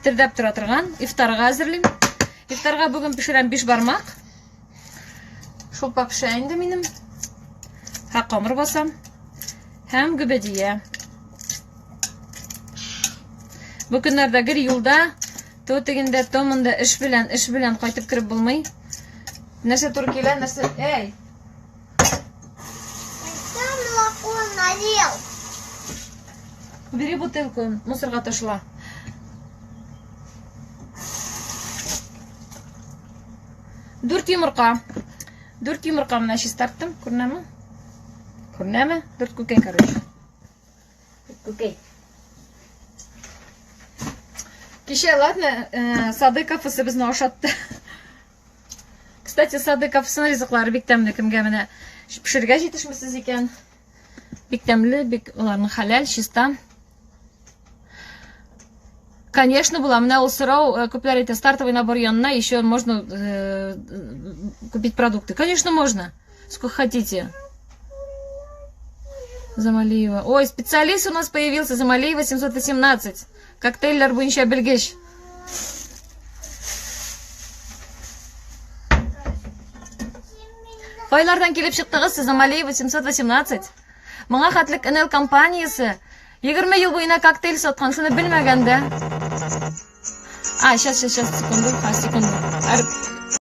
Кетердәп тора торган ифтарга әзерлим. Ифтарга бүген пешерәм биш бармак. Шулпа пешә инде минем. Һә камыр басам. Һәм гөбәдия. Бу көннәрдә гел юлда, то тегендә, то монда эш белән, эш белән кайтып кереп булмый. Нәрсә туры килә, нәрсә... Эй! Бери бутылку, мусорга ташла. Дүрт йомырка. Дүрт йомырка менә чистарттым, күренәме? Күренәме? Дүрт күкәй, короче. Күкәй. Кичә, ладно, э, Садыков безне ашатты. Кстати, сады капсына ризыклары бик тәмле кемгә менә пешергә җитешмисез икән. Бик тәмле, бик уларның хәләл, чиста. Конечно, була. Менә ул сорау э, күпләр әйтә, стартовый набор янына еще можно э, купить продукты. Конечно, можно. Сколько хотите. Замалиева. Ой, специалист у нас появился, Замалиева 718. Коктейльләр буенча белгеч. Кайлардан килеп чыктыгыз сез Амалия 818? Моңа хәтлек НЛ компаниясе 20 ел буена коктейль саткан, сыны белмәгәндә. А, сейчас, сейчас, сейчас, секунду, а, секунду.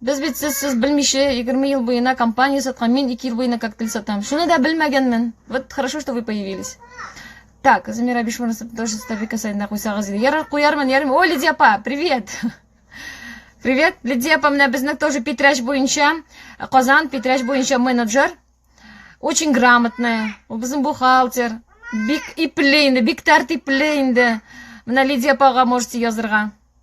Без бит сез сез белмичә 20 ел буена компания саткан, мин 2 ел буена коктейль сатам. Шуны да белмәгәнмен. Вот хорошо, что вы появились. Так, Замира Бишмурасов тоже стабика сайдына куйсагыз иде. Ярар куярмын, ярмын. О, Лидия апа, привет! Привет, Лидия апа, менә безнең тоже Питрәч буенча, Казан Питрәч буенча менеджер. Очень грамотная. Ул безнең бухгалтер. Бик ипле инде, бик тәртипле инде. Менә Лидия апага можете язырга.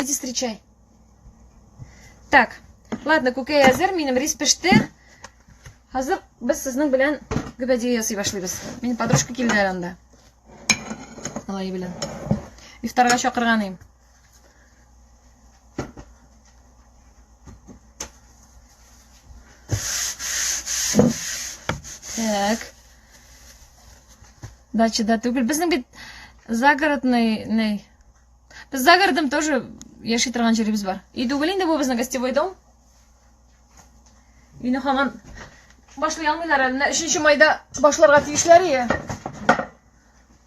Иди встречай. Так, ладно, күкәй әзер, минем рис пеште. Хәзер без сезнең белән гөбәдия ясый башлыйбыз. Мин подружка килде әле анда. Алай белән. Ифтарга чакырган идем. Так. Дача да түгел. Безнең бит загородный, ней. Без загородым тоже яши торган җиребез бар. И түгел инде бу безнең гостевой дом. Өйне хаман башлый алмыйлар әле. Менә 3 майда башларга тиешләр ие.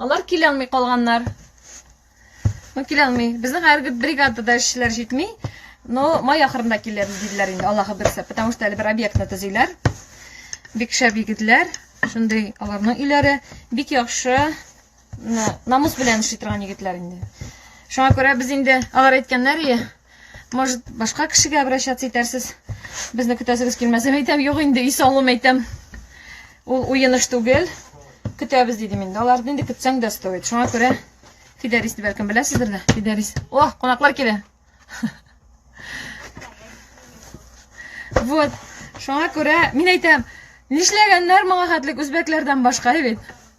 Алар килә алмый калганнар. Ну, килә алмый. Безнең хәзерге бригадада эшчеләр җитми. Но май ахырында килер диделәр инде, Аллаһы берсе, потому что әле бер объектны төзиләр. Бик шәп егетләр, шундый аларның өйләре бик яхшы намус белән эшли торган егетләр инде. Шуңа күрә без инде алар әйткәннәр, Может, башка кешегә обращаться итәрсез. Безне көтәсегез килмәсә, әйтәм, юк инде, өй салуым әйтәм. Ул уеныш түгел. Көтәбез дидем инде. Аларны инде көтсәң дә стоит. Шуңа күрә Фидарис дип бәлкем беләсездер дә. Фидарис. О, кунаклар килә. Вот. Шуңа күрә мин әйтәм, нишләгәннәр моңа хәтлек үзбәкләрдән башка бит.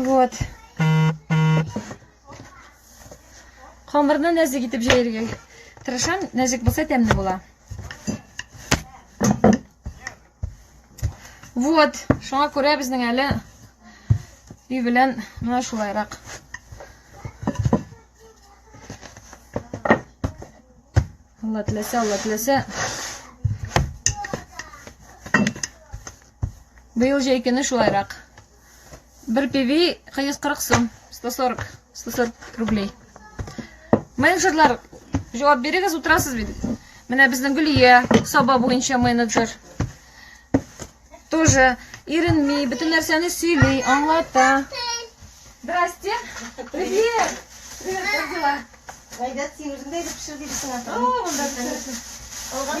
Вот. Камырны нәзек итеп җәяргә тырышам. Нәзек булса тәмле була. Вот, шуңа күрә безнең әле өй белән менә шулайрак. Алла теләсә, Алла теләсә. Быел җәй көне шулайрак. Бер певи 140 сум, 140, 140 рублей. Менеджерлар, җавап бирегез, утырасыз бит. Менә безнең Гөлия, саба буенча менеджер. Тоже иренми, бөтен нәрсәне сөйли, аңлата. Здрасте. Привет. Привет, как дела? Гайда син үзеңдә итеп пешер дибесең ата. О, монда пешер. Алган.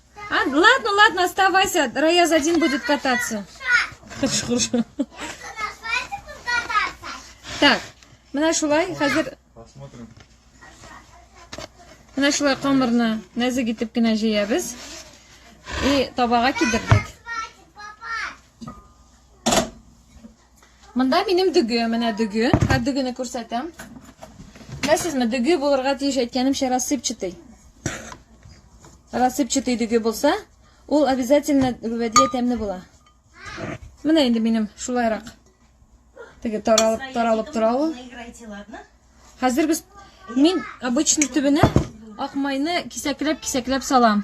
А, ладно, ладно, оставайся. Раяз один будет кататься. Хорошо, хорошо. Так, менә шулай, хәзер... Посмотрим. Менә шулай камырны нәзек итеп кенә җыябыз. И табага кидердек. Монда минем дөге, менә дөге. Хәт дөгене күрсәтәм. Беләсезме, дөге булырга тиеш әйткәнемчә рассыпчатый. Рассыпчатый дөге булса, ул обязательно гүвәдия тәмле була. Менә инде минем шулайрак. Теге таралып, таралып тора ул. Хәзер без мин обычный төбенә ак майны кисәкләп-кисәкләп салам.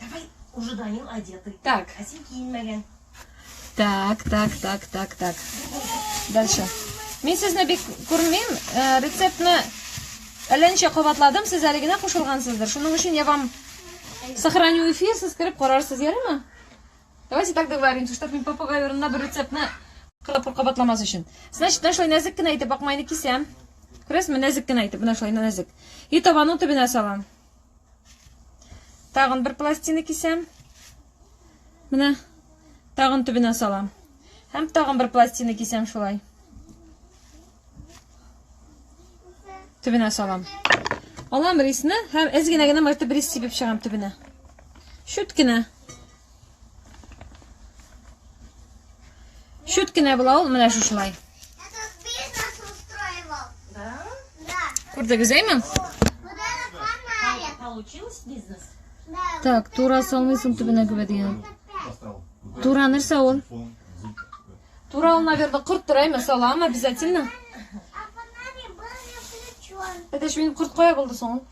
Давай, уже Данил одетый. Так. А син киенмәгән. Так, так, так, так, так. Дальше. Мин сезне бик күрмим, э, рецептны әлләнчә кабатладым, сез әле генә кушылгансыздыр. Шуның өчен я вам сохраню эфир, сез кереп карарсыз, ярыймы? Давайте так договоримся, чтобы мин попугай урынына бер рецептны кырып кабатламас өчен. Значит, менә шулай нәзек кенә итеп акмайны кисәм. Күрәсезме, нәзек кенә итеп, менә шулай нәзек. И табаның төбенә салам. Тагын бер пластина кисәм. Менә тагын төбенә салам. Һәм тагын бер пластина кисәм шулай. Төбенә салам. Алам рисны һәм әз генә генә мәртебе рис сибеп чыгам төбенә. Шүт кенә. Чүт кенә була ул менә шушылай. Күрдегез, әйме? Так, тура салмыйсың төбенә күбә дигән. Тура нәрсә ул? Тура ул, наверное, корт тора, әйме, салам обязательно. Это ж минем корт кая булды соң?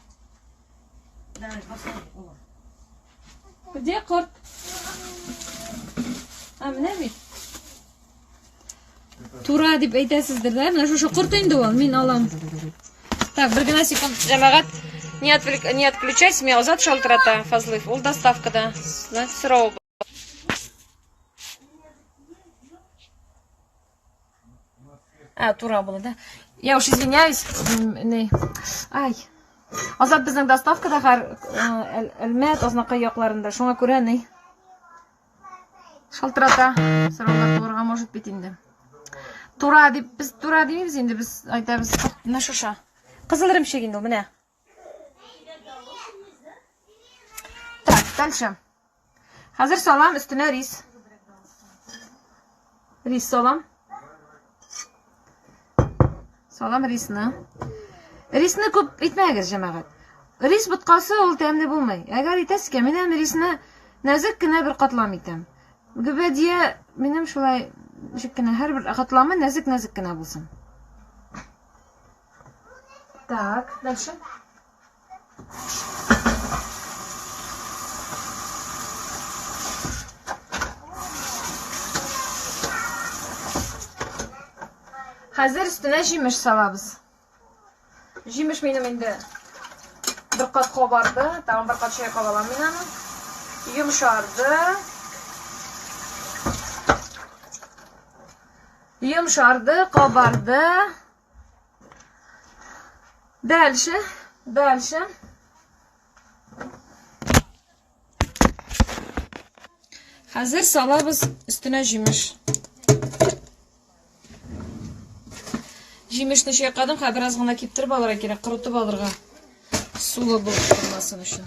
Давай, Где корт? А, менә бит. Тура дип әйтәсездер, да? Менә шушы корт инде ул, мин алам. Так, бер генә секунд, җәмәгать. Не, отвлек... не отключайся, меня озат шалтырата, Фазлыев. Ул доставкада. Значит, срок. А, тура булды, да? Я уж извиняюсь. Ай. Азат безнең доставкада хәр Әлмәт, Азнакай якларында. Шуңа күрә ни? Шалтырата. Сораулар турыга может бит инде. Тура дип, без тура димибез инде, без айтабыз. Менә шуша. Кызыл ремчек инде ул, менә. Так, дальше. Хәзер салам өстенә рис. Рис салам. Салам рисны. Рисны күп итмәгез, җәмәгать. Рис боткасы ул тәмле булмый. Әгәр итәсезгә, мин әм рисны нәзек кенә бер катлам итәм. Гөбәдия минем шулай ничек кенә һәрбер катламы нәзек-нәзек кенә булсын. Так, дальше. Хәзер өстенә җимеш салабыз. Җимеш минем инде бер кат кабарды, тагын бер кат чайкап алам мин аны. Йомшарды. Йомшарды, кабарды. Дальше, дальше. Хәзер салабыз өстенә җимеш. Җимешне чайкадым, хәзер бераз гына киптереп алырга кирәк, корытып алырга. Сулы булып калмасын өчен.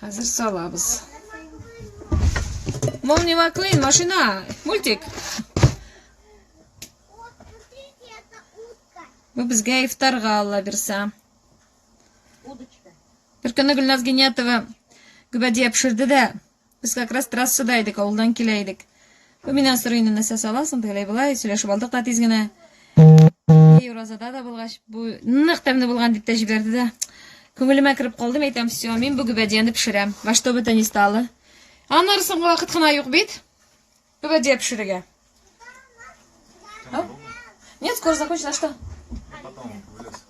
Хәзер салабыз. Молни Маклин, машина, мультик. Бу безгә ифтарга алла бирсә. Бер көнне Гөлназ Генятова гөбәдия пешерде дә, без как раз трассада идек, авылдан килә идек. Ул миннән сорый инде, нәрсә саласың, тегеләй-болай, сөйләшеп алдык та тиз генә. И, уразада да булгач, бу нык тәмле булган дип тә җибәрде дә. Күңелемә кереп калды, мин әйтәм, все, мин бу гөбәдияне пешерәм. Во что бы то ни стало. Аннары соңгы вакыт кына юк бит. Гөбәдия пешерергә. Нет, скоро закончится, а что?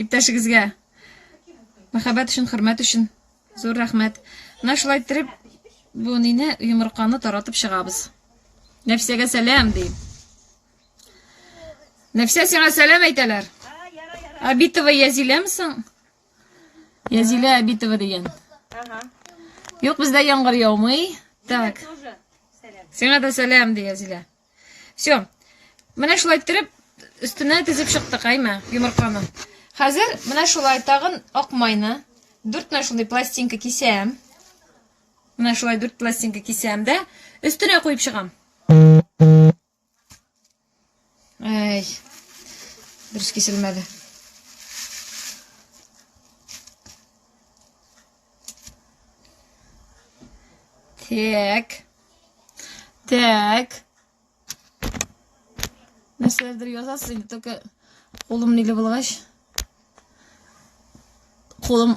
Иптәшегезгә мәхәббәт өчен, хөрмәт өчен зур рәхмәт. Менә шулай иттереп бу нине йомырканы таратып чыгабыз. Нәфсәгә сәлам ди. Нәфсә сиңа сәлам әйтәләр. Абитова Язиләме соң? Язилә Абитова дигән. Ага. Юк, бездә яңгыр яумый. Так. Сиңа да сәлам ди Язилә. Все. Менә шулай иттереп өстенә тезеп чыктык, әйме, йомырканы. Хәзер менә шулай тагын ак майны дүрт менә шундый пластинка кисәм. Менә шулай дүрт пластинка кисәм дә өстенә куеп чыгам. Әй. Дөрес киселмәде. Так. Так. Нәрсәләрдер язасыз инде, только кулым ниле булгач. Кулым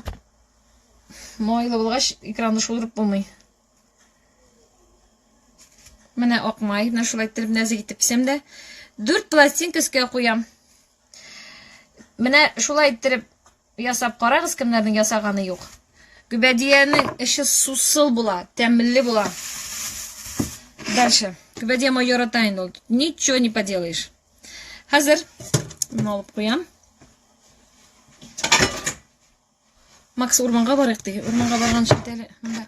майлы булгач, экранны шудырып булмый. Менә акмай, менә шулай иттереп нәзик итеп писәм дә, 4 пластинка өскә куям. Менә шулай иттереп Ясап карагыз кемнәрнең ясаганы юк. Гөбәдиянең эче сусыл була, тәмле була. Дальше. Гөбәдия мой ярата инде ул. Ничего не поделаешь. Хәзер мин алып куям. Макс урманга барыйк ди. Урманга барган шикелле монда.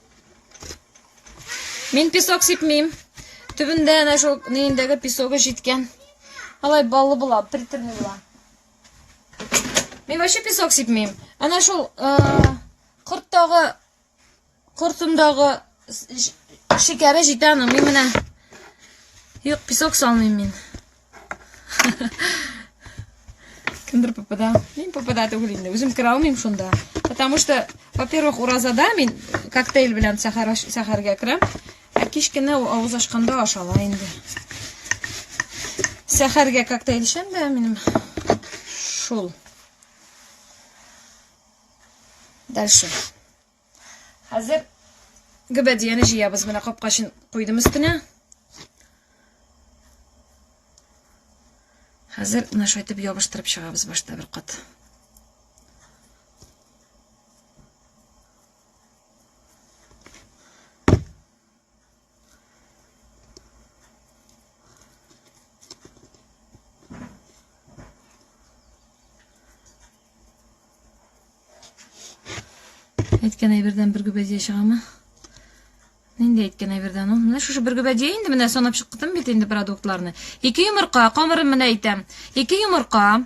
Мин песок сипмим. Төбендә әнә шул ниендәге песогы җиткән. Алай баллы була, приторный була. Мин вообще песок сипмим. Әнә шул э, корттагы кортындагы шикәре җитә аның. Мин менә юк песок салмыйм мин. Кемдер попадал. Мин попадал түгелинде. Үзем кера алмыйм шунда. Потому что, во-первых, уразада мин коктейль белән сәхәр сәхәргә керәм. Ә кич кенә авыз ашканда ашала инде. Сәхәргә коктейль ичәм дә минем шул. Дальше. Хәзер гөбәдияне җыябыз. Менә капка өчен куйдым өстенә. Хәзер менә шулай итеп ябыштырып чыгабыз башта бер кат. Әйткән әйбердән бер гөбәдия чыгамы? Нинди әйткән әйбердән ул? Менә шушы бер гөбәдия инде менә санап чыктым бит инде продуктларны. Ике йомырка, камырын менә әйтәм. Ике йомырка,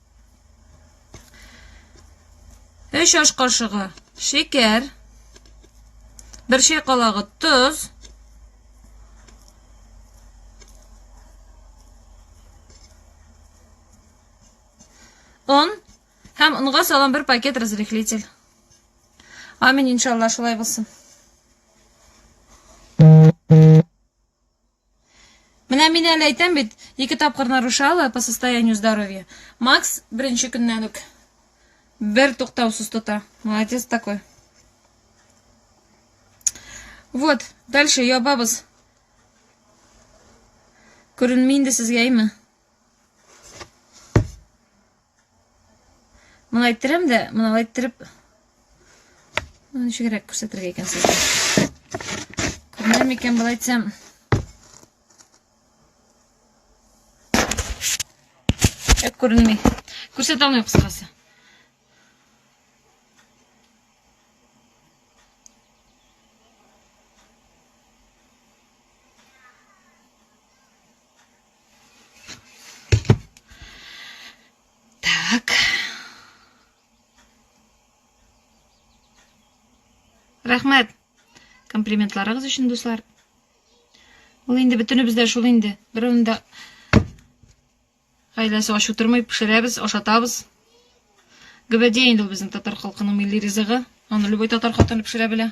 3 аш кашыгы шикәр, 1 чәй калагы тоз, он һәм онга салам бер пакет разрыхлитель. Амин, иншалла, шулай булсын. Менә мин әле әйтәм бит, ике тапкыр нарушала по состоянию здоровья. Макс беренче көннән үк бер туктаусыз тота. Молодец такой. Вот, дальше ябабыз. Күренми инде сезгә, әйме? Моны әйттерәм дә, моны әйттереп ничегрәк күрсәтергә икән сезгә. Күрмәм икән болай әйтсәм. Ә күренми. Күрсәтә алмыйм кыскасы. Так. Рәхмәт. Комплиментларыгыз өчен, дуслар. Ул инде бөтенебез дә шул инде. Берәүне дә гаиләсе ач утырмый, пешерәбез, ашатабыз. Гөбәдия инде ул безнең татар халкының милли ризыгы. Аны любой татар хатыны пешерә белә.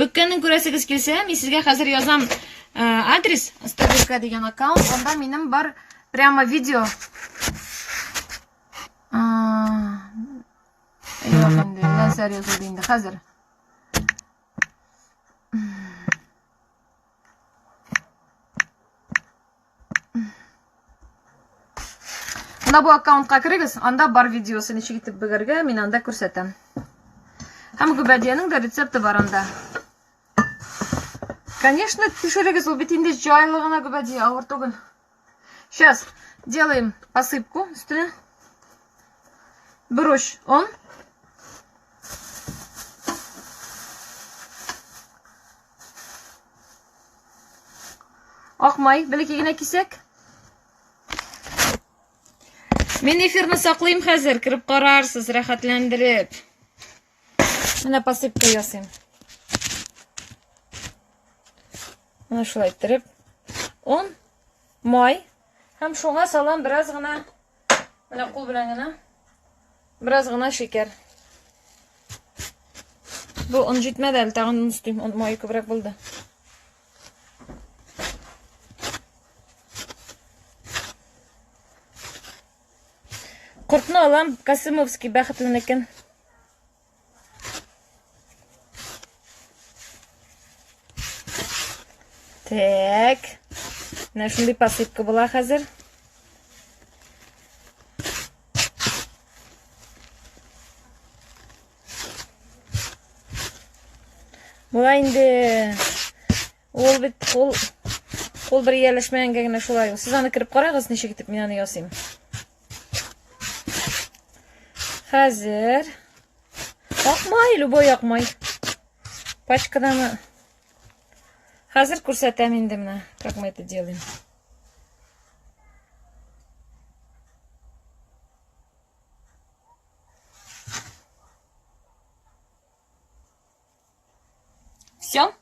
Бөккәнен күрәсегез килсә, мин сезгә хәзер язам э, адрес, стабилка дигән аккаунт, анда минем бар прямо видео. Юк инде, нәрсә язылды инде хәзер. Менә бу аккаунтка керегез, анда бар видеосы ничек итеп бөгәргә, мин анда күрсәтәм. Һәм гүбәдиянең дә рецепты бар анда. Конечно, төшерегез, ул бит инде җайлы гына гүбәдия, авыр түгел. Сейчас делаем посыпку өстенә. Бер уч он. Акмай, бәләкәй генә кисәк. Мин эфирны саклыйм хәзер, кереп карарсыз, рәхәтләндереп. Менә посыпка ясыйм. Менә шулай иттереп. Он, май һәм шуңа салам бераз гына Менә кул белән генә. Бераз гына шикәр. Бу он җитмәде әле, тагын он өстим. Он мае күбрәк булды. Кортны алам, Касымовский бәхетленекен. Так. Менә шундый посыпка була хәзер. Була инде ул бит ул ул бер ияләшмәгәнгә генә шулай. Сез аны кереп карагыз, ничек итеп мин аны ясыйм. Хәзер. Акмай, любой акмай. Пачкадан Хәзер күрсәтәм инде менә, как мы это делаем. Все?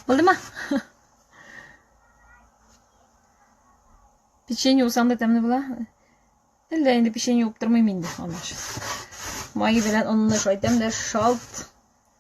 Булдымы? Печенье усам да тәмле була. Әллә инде печенье уптырмыйм инде. Аны. Май белән онны шайтам да шалт.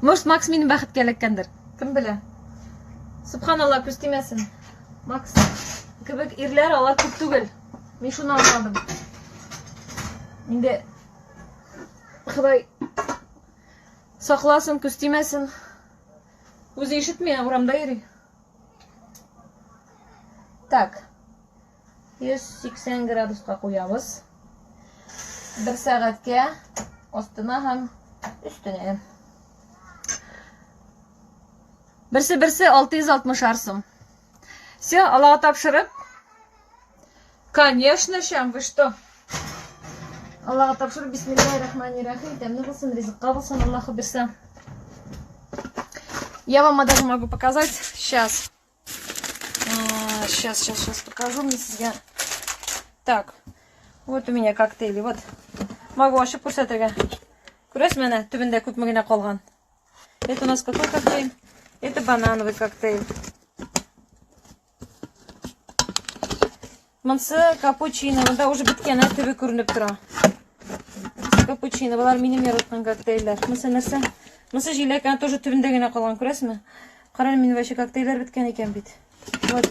Может, Макс мине бәхеткә эләккәндер? Кем белә? Субханалла, күз тимәсен. Макс кебек ирләр алар күп түгел. Мин шуны аңладым. Инде Ходай сакласын, күз тимәсен. Үзе ишетми, ә урамда йөри. Так. 180 градуска куябыз. Бер сәгатькә астына һәм өстенә. Берсе-берсе 660 арсым. Все, Аллаһ тапшырып. Конечно, чем вы что? Аллаһ тапшырып, бисмиллахи рахмани рахим. Тәмле булсын, ризыкка булсын, Аллаһ бирсә. Я вам даже могу показать сейчас. А, сейчас, сейчас, сейчас покажу мне себя. Так, вот у меня коктейли. Вот. Могу ашып күрсәтергә. Күрәсез менә, төбендә күпме генә калган. Это у нас какой коктейль? Это банановый коктейль. Монсы капучино, монда уже беткән ә төбе күренеп тора. Капучино, болар минем яраткан коктейльләр. Монсы нәрсә? Монсы җиләк, аны тоже төбендә генә калган, күрәсезме? Карале, мин вообще коктейльләр беткән икән бит. Вот.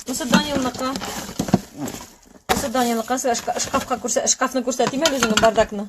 Монсы Данилныкы. Монсы Данилныкы, шкафка күрсә, шкафны күрсәтим әле үзеңне, бардакны.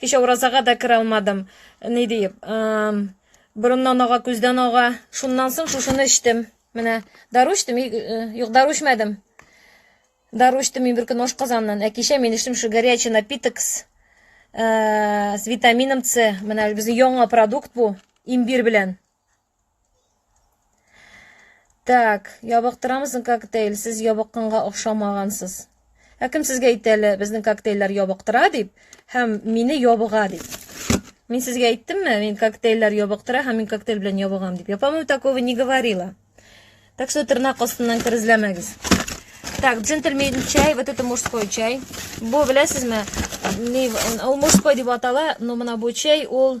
Кичә уразага да керә алмадым. Ни диеп, ам, борыннан ага, күздән ага. Шуннан соң шушыны эчтем. Менә дару эчтем, и- э, юк, дару эчмәдем. Дару эчтем мин бер көн ашказаннан, ә кичә мин эчтем шу горячий напиток с, э, с витамином С. Менә безнең яңа продукт бу, имбир белән. Так, ябыктырамызмы коктейль? Сез ябыкканга охшамагансыз. Ә кем сезгә әйтте әле безнең коктейльләр ябыктыра дип һәм мине ябыга дип? Мин сезгә әйттемме, мин коктейльләр ябыктыра һәм мин коктейль белән ябыгам дип? Я, по-моему, такого не говорила. Так что тырнак астыннан керезләмәгез. Так, джентльмен чай, вот это мужской чай. Бу, беләсезме, ул мужской дип атала, но мына бу чай, ул